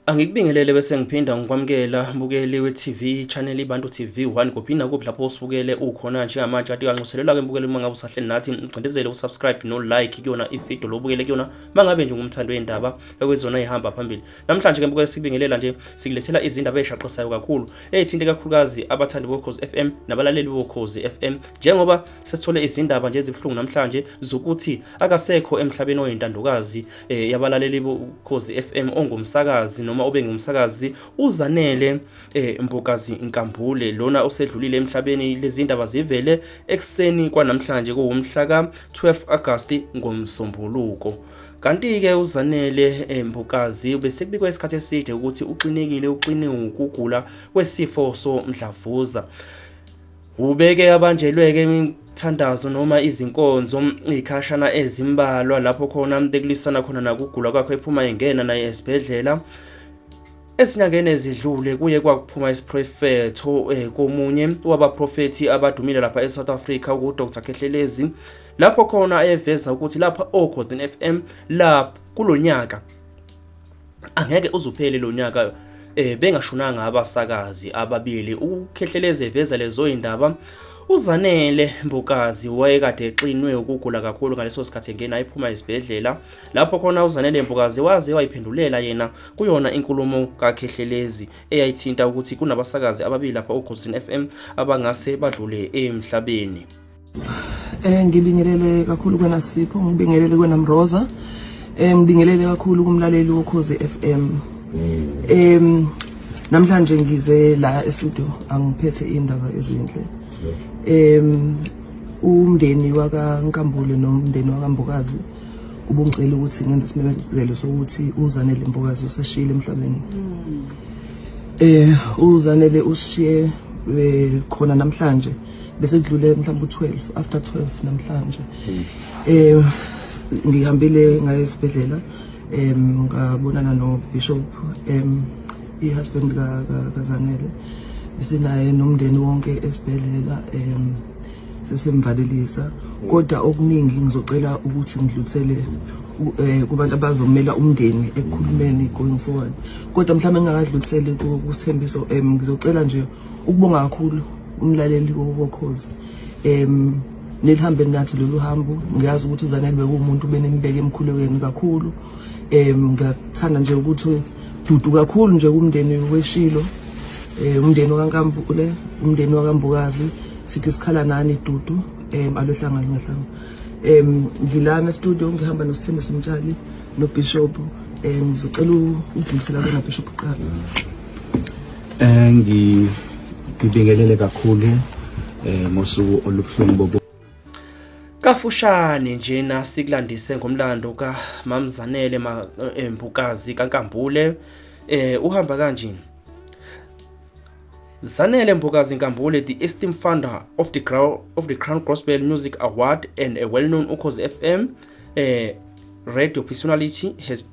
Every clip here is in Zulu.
Angikubingelele bese ngiphinda ngikwamukela mbukeli we-TV channel iBantu TV 1 kuphi nakuphi lapho usibukele ukhona njengamanje kade kanxuselelwa ke mbukeli uma ngabe usahleli nathi ngicindezele usubscribe no like kuyona ivideo lobukele kuyona mangabe nje ngumthando wendaba ekwezona ihamba phambili namhlanje ke mbukeli sibingelela nje sikulethela izindaba ezishaqisayo kakhulu ezithinte kakhulukazi abathandi bokhozi FM nabalaleli bokhozi FM njengoba sesithole izindaba nje ezibuhlungu namhlanje zokuthi akasekho emhlabeni oyintandokazi eh, yabalaleli bokhozi FM ongumsakazi noma obengumsakazi uzanele eh, Mbokazi Nkambule lona osedlulile emhlabeni lezindaba zivele ekseni kwanamhlanje kuwumhla ka 12 August ngomsombuluko Kanti-ke uZanele eh, Mbukazi besekubikwa isikhathi eside ukuthi uxinekile uxine ukugula kwesifo somdlavuza. Ubeke abanjelweke imithandazo noma izinkonzo ikhashana ezimbalwa lapho khona bekulisana khona nakugula kwakhe ephuma engena naye esibhedlela Esinyangeni ezidlule kuye kwakuphuma isiprofetho eh, komunye wabaprofethi abadumile lapha eSouth Africa uDr Khehlelezi lapho khona ayeveza ukuthi lapha oGolden FM lapho kulonyaka angeke uzuphele lo nyaka eh bengashonanga abasakazi ababili ukukhehleleze veza lezo indaba UZanele Mbukazi wayekade exinwe ukugula kakhulu ngaleso sikhathi engena ayiphuma esibhedlela lapho khona uZanele Mbukazi waze wayiphendulela yena kuyona inkulumo kaKhehlelezi eyayithinta ukuthi kunabasakazi ababili lapha uGozini FM abangase badlule emhlabeni Eh ngibingelele kakhulu kwena Sipho, ngibingelele kwena Mroza. Eh ngibingelele kakhulu kumlaleli woKhoze FM. Em namhlanje ngize la e-studio angiphethe indaba ezinhle. Em umndeni waka Nkambule nomndeni waka Mbokazi ubungicela ukuthi ngenze isimemezelo sokuthi uzanele Mbokazi useshile emhlabeni. Eh uzanele ushiye eh, khona namhlanje. bese kudlule mhlawumbe u-12 after 12 namhlanje hmm. eh ngihambile ngaye esibhedlela em ngabonana no bishop em i husband ka kazanele bese naye nomndeni wonke esibhedlela em sesimvalelisa hmm. kodwa okuningi ngizocela ukuthi ngidlulisele eh, kubantu abazomela umndeni ekukhulumeni going forward kodwa mhlawumbe ngingakadluliseli kusithembiso em ngizocela nje ukubonga kakhulu umlaleli wokokhozi em nelihambe nathi lolu hambo ngiyazi ukuthi uzanele bekuwumuntu benembeke emkhulekweni kakhulu em ngiyathanda nje ukuthi dudu kakhulu nje kumndeni weshilo eh umndeni wakaNkampule umndeni wakaMbukazi sithi sikhala nani dudu em alohlangana ngahlanga em ngilana studio ngihamba noSithembiso Mtshali noBishop em ngizocela ukudlulisela kona Bishop Qala Eh, ngibingelele kakhulu eh, ngosuku olubuhlungu bobo kafushane njena sikulandise ngomlando kamamzanele eh, mbukazi kankambule eh uhamba kanje Zanele Mbokazi Nkambule the esteemed founder of the Crown of the Crown Gospel Music Award and a well-known Ukhozi FM eh radio personality has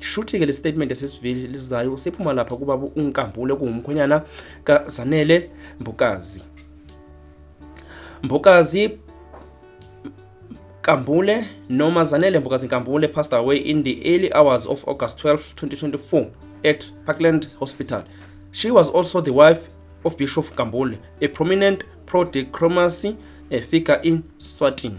shuthi-ke le statement esisivelizayo siphuma lapha kubaba unkambule kungumkhwenyana kazanele mbokazi mbokazi Kambule noma Zanele Mbokazi Kambule passed away in the early hours of August 12, 2024 at Parkland Hospital. She was also the wife of Bishop Kambule, a prominent pro-democracy eh, figure in Swatini.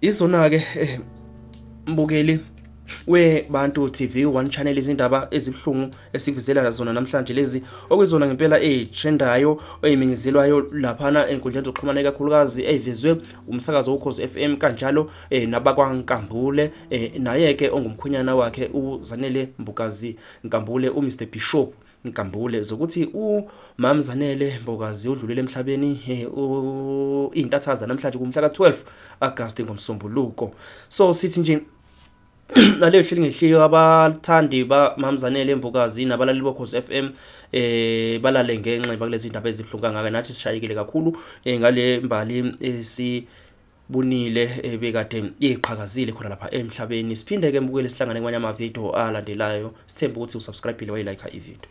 Izona ke eh, mbukeli we Bantu TV one channel izindaba ezibhlungu esivizela zona namhlanje lezi okuyizona ngempela ezitrendayo oyiminyezelwayo laphana enkundleni zokuxhumana ikakhulukazi eyivezwe umsakazo ukhozi FM kanjalo eh, nabakwaNkambule eh, naye ke ongumkhonyana wakhe uZanele Mbukazi Nkambule uMr Bishop Ngigambule zokuthi uMam Zanele Mbokazi udlulile emhlabeni eh, intathaza namhlanje kumhla ka-12 August ngomsombuluko. So sithi nje naleyo hleli ngehliyo abathandi bamamzanele mbukazi nabalaleli bokhozi f m eh balale ngenxeba kulezi ndaba ezibuhlungu kangaka nathi sishayekile kakhulu eh, ngale mbali esi eh, bunile ebekade eh, iqhakazile khona lapha emhlabeni siphinde ke mbukele sihlangane kwanye ama video alandelayo sithemba ukuthi usubscribe le wayi like i video